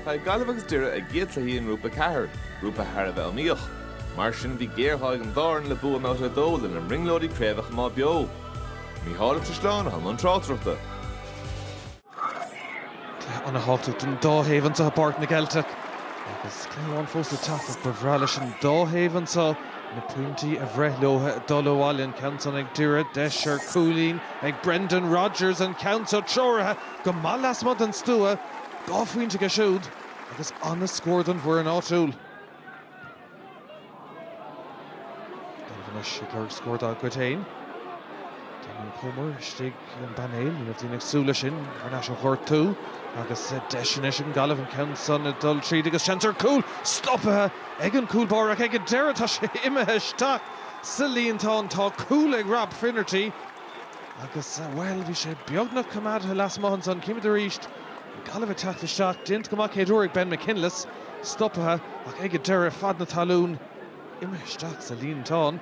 Chaill Gaillimh agus Doire a gcéad chluichí i nGrúpa 4, grúpa thar a bheith iomaíoch. Mar sin bhí géarghá ag an dá fhoireann le bua i mbabhta a dó lena mbrionglóidí craobh a choimeád beo. Mícheál Ó Caisleáin a bhí i mbun tráchtaireachta. Cluiche ana thábhachtach don dá thaobh anseo i bPáirc na Gceilteach agus cluiche amháin fós le teacht ach ba bhreá leis an dá thaobh anseo na pointí a bhreith leo ag dul abhaile. An ceann san ag Doire, deis ar cúilín ag Brendan Rogers, an ceann seo treoraithe go maith lasmuigh den stua, dhá phointe aige siúd agus an-scór don bhfoireann áitiúil. Gaillimh anois ag lorg scór dá gcuid féin. Damien Comer istigh ar an bpainéal, ní raibh daoine ag súil leis sin, thar n-ais ó ghortú agus deis anois ag an nGaillimh an ceann san ag dul tríd agus seans ar chúl! Stopaithe ag an gcúl báire ach ag an deireadh tá sé imithe isteach sa líontán. Tá cúl ag Rob Finnerty. Agus, bhuel, bhí sé beagnach coimeádtha lasmuigh ansan. Címid arís Gaillimh ag teacht isteach. Déanta go maith céad uair ag Ben McKinless. Stopaithe ach ag an deireadh, fad na talún, imithe isteach sa líontán.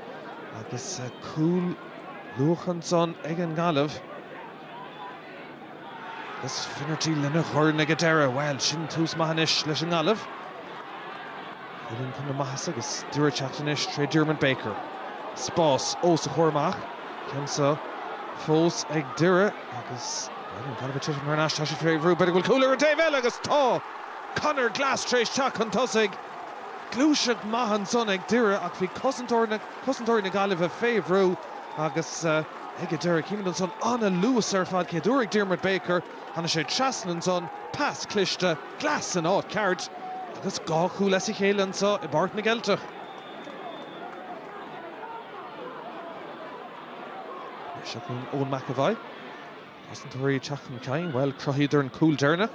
Agus cúl luachmhar ansan ag an nGaillimh. Agus Finnerty lena dhorn ag an deireadh, bhuel, sin tús maith anois leis an nGaillimh. Cúilín chun na maitheasa agus Doire ag teacht anois tré Diarmuid Baker. Spás ós a chomhair amach, ceann seo fós ag Doire agus, bhuel, an Gaillimh ag titim thar n-ais, tá siad fé bhrú, b'fhéidir go bhfuil cúl ar an taobh eile agus tá! Conor Glass tréis teacht chun tosaigh. Gluaiseacht maith ansan ag Doire ach bhí cosantóir na. Cosantóirí na Gaillimhe fé bhrú agus ag an deireadh címid ansan an-luas ar fad céad uair ag Diarmuid Baker, tháinig sé trasna ansan, pas cliste, Glass in áit ceart agus dhá chúl as a chéile anseo i bPáirc na gCeilteach. Seo Eoin McEvoy. Cosantóirí ag teacht chun cinn. Bhuel, cruthaíodar an cúl deireanach.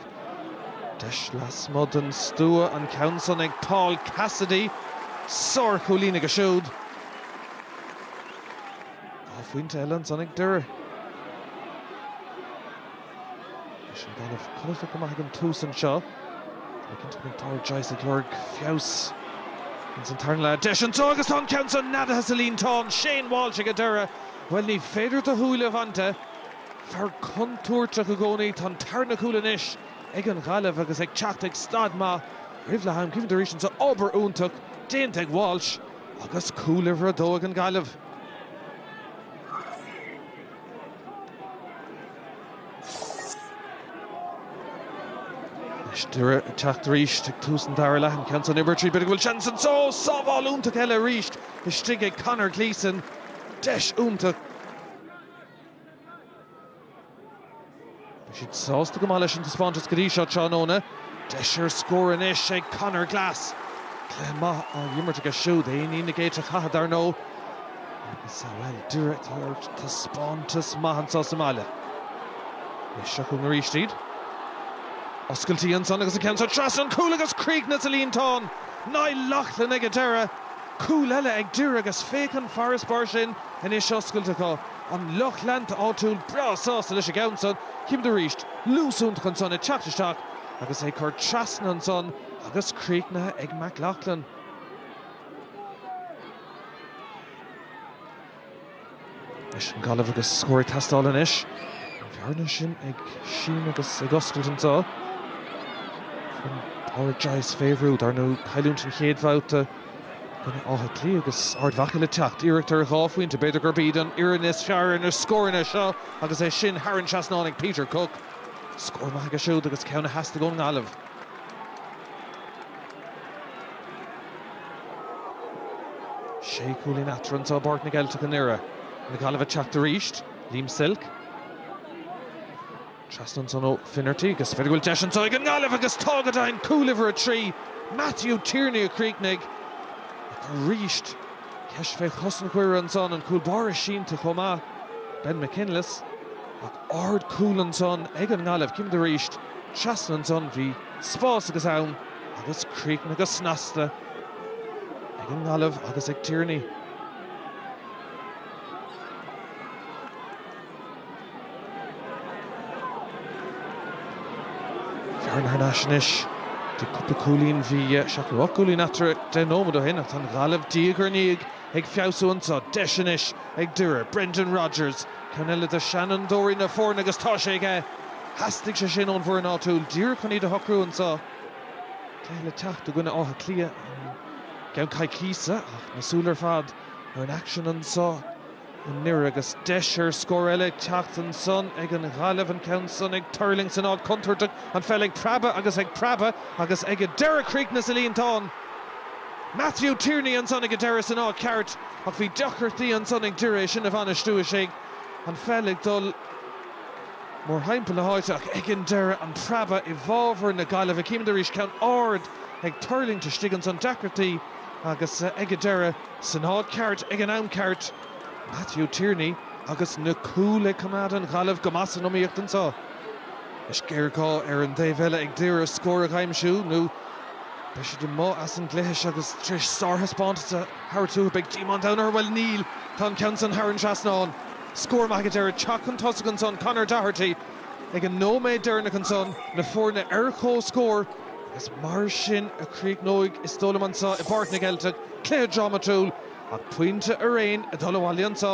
Deis lasmuigh den stua, an ceann san ag Paul Cassidy. Sár-chúilín aige siúd. Dhá phointe eile ansan ag Doire. Bhí an Gaillimh cumhachtach go maith ag an tús anseo. Táim cinnte go mbeidh Pádraic Joyce ag lorg feabhas ins an tarna leath. Deis anseo agus tá an ceann san neadaithe sa líontán. Shane Walsh ag an deireadh. Bhuel, ní féidir do shúile a bhaint de. Fear contúirteach i gcónaí. Tá an tarna cúl anois ag an Ghaillimh agus ag teacht ag staid maith roimh leath am. Címid arís anseo, obair iontach déanta ag Walsh agus cúl uimhir a dó ag an Gaillimh. Anois Doire ag teacht arís ag tús an dara leath. An ceann san uimhir a trí. B'fhéidir go bhfuil seans anseo. Sábháil iontach eile arís istigh ag Conor Gleeson. deis iontach. Bhí siad sásta go maith leis an taispeántas go dtí so tráthnóna. Deis ar scór anois ag Conor Glass. Cluiche maith á imirt aige siúd, é i ndiaidh na géite chatha dar ndóigh. Agus, bhuel, Doire ag tabhairt taispeántas maith anso sa mbaile. Beidh seo chugainn arís iad. Oscailtí ansan agus an ceann san trasna an chúil agus críochnaithe sa líontán! Niall Loughlin ag an deireadh. Cúl eile ag Doire agus féach an farasbarr sin anois oscailte acu. An lucht leanta áitiúil breá sásta leis an gceann san. Cífimid arís luas iontach ansan ag teacht isteach agus é curtha trasna ansan agus críochnaithe ag McLaughlin. Anois an Ghaillimh agus scór ag teastáil anois. An bhearna sin ag síneadh agus ag oscailt anso. Padraic Joyce fé bhrú, dar ndóigh cailliúint an chéad bhabhta i gcoinne Átha Cliath agus Ard Mhacha le teacht. Iarracht ar dhá phointe, b'fhéidir gurb iad an fhoireann is fearr ar na scóranna seo agus é sin thar an trasnán ag Peter Cooke. Scór maith aige siúd agus ceann a theastaigh ón nGaillimh. Sé cúilín eatarthu anso i bPáirc na gCeilteach i nDoire. Na Gaillimhigh ag teacht arís. Liam Silke. Trasna ansan ó Finnerty agus b'fhéidir go bhfuil deis anso ag an nGaillimh agus tá go deimhin! Cúl uimhir a trí, Matthew Tierney a chríochnaigh. Ach arís ceist fé chosaint Dhoire ansan, an cúl báire sínte chomh maith, Ben McKinless. Ach ard cúl ansan ag an nGaillimh. Cífimid arís. Trasna ansan bhí. spás agus am agus críochnaithe go snasta ag an nGaillimh agus ag Tierney. Fear thar n-ais anois. Bhí cúpla cúilín, bhí seacht nó ocht gcúilín eatarthu deich nóiméad ó shin ach tá an Ghaillimh diaidh ar ndiaidh Ag feabhsú anso, deis anois ag Doire. Brendan Rogers, ceann eile de seanfhondúirí na foirne agus tá sé aige! Theastaigh sé sin ón bhfoireann áitiúil díreach chun iad a shocrú anso. Cluiche le teacht i gcoinne Átha Cliath i gceann coicíse ach na súile ar fad ar an aicsean anso. i nDoire agus deis ar scór eile ag teacht ansan ag an nGaillimh, an ceann san ag tuirlingt san áit chontúirteach, an pheil ag preabadh agus ag preabadh agus ag an deireadh críochnaithe sa líontán. Matthew Tierney ansan ag an deireadh san áit cheart ach bhí deacrachtaí ansan ag Doire é sin a bhainistiú is an pheil ag dul mórthimpeall na háite ach ag an deireadh an preabadh i bhfábhar na Gaillimhe. Cífimid arís ceann ard ag tuirlingt istigh ansan, deacrachtaí agus ag an deireadh. San áit ceart ag an am ceart, Matthew Tierney agus na cúil ag coimeád na Gaillimhe go maith san iomaíocht anso. Is géarghá ar an dtaobh eile ag Doire scór a aimsiú nó beidh siad amuigh as an gcluiche agus tar éis sárthaispeántas a thabhairt uathu beidh díomá an domhain orthu. Bhuel, níl. Tá an ceann san thar an trasnán. Scór maith ag an deireadh. Ag teacht chun tosaigh ansan, Conor Doherty. Ag an nóiméad deireanach ansan na foirne ar comhscór agus mar sin a chríochnóidh is dóigh liom anso i bPáirc na gCeilteach, cluiche drámatúil ach pointe araon ag dul abhaile anso.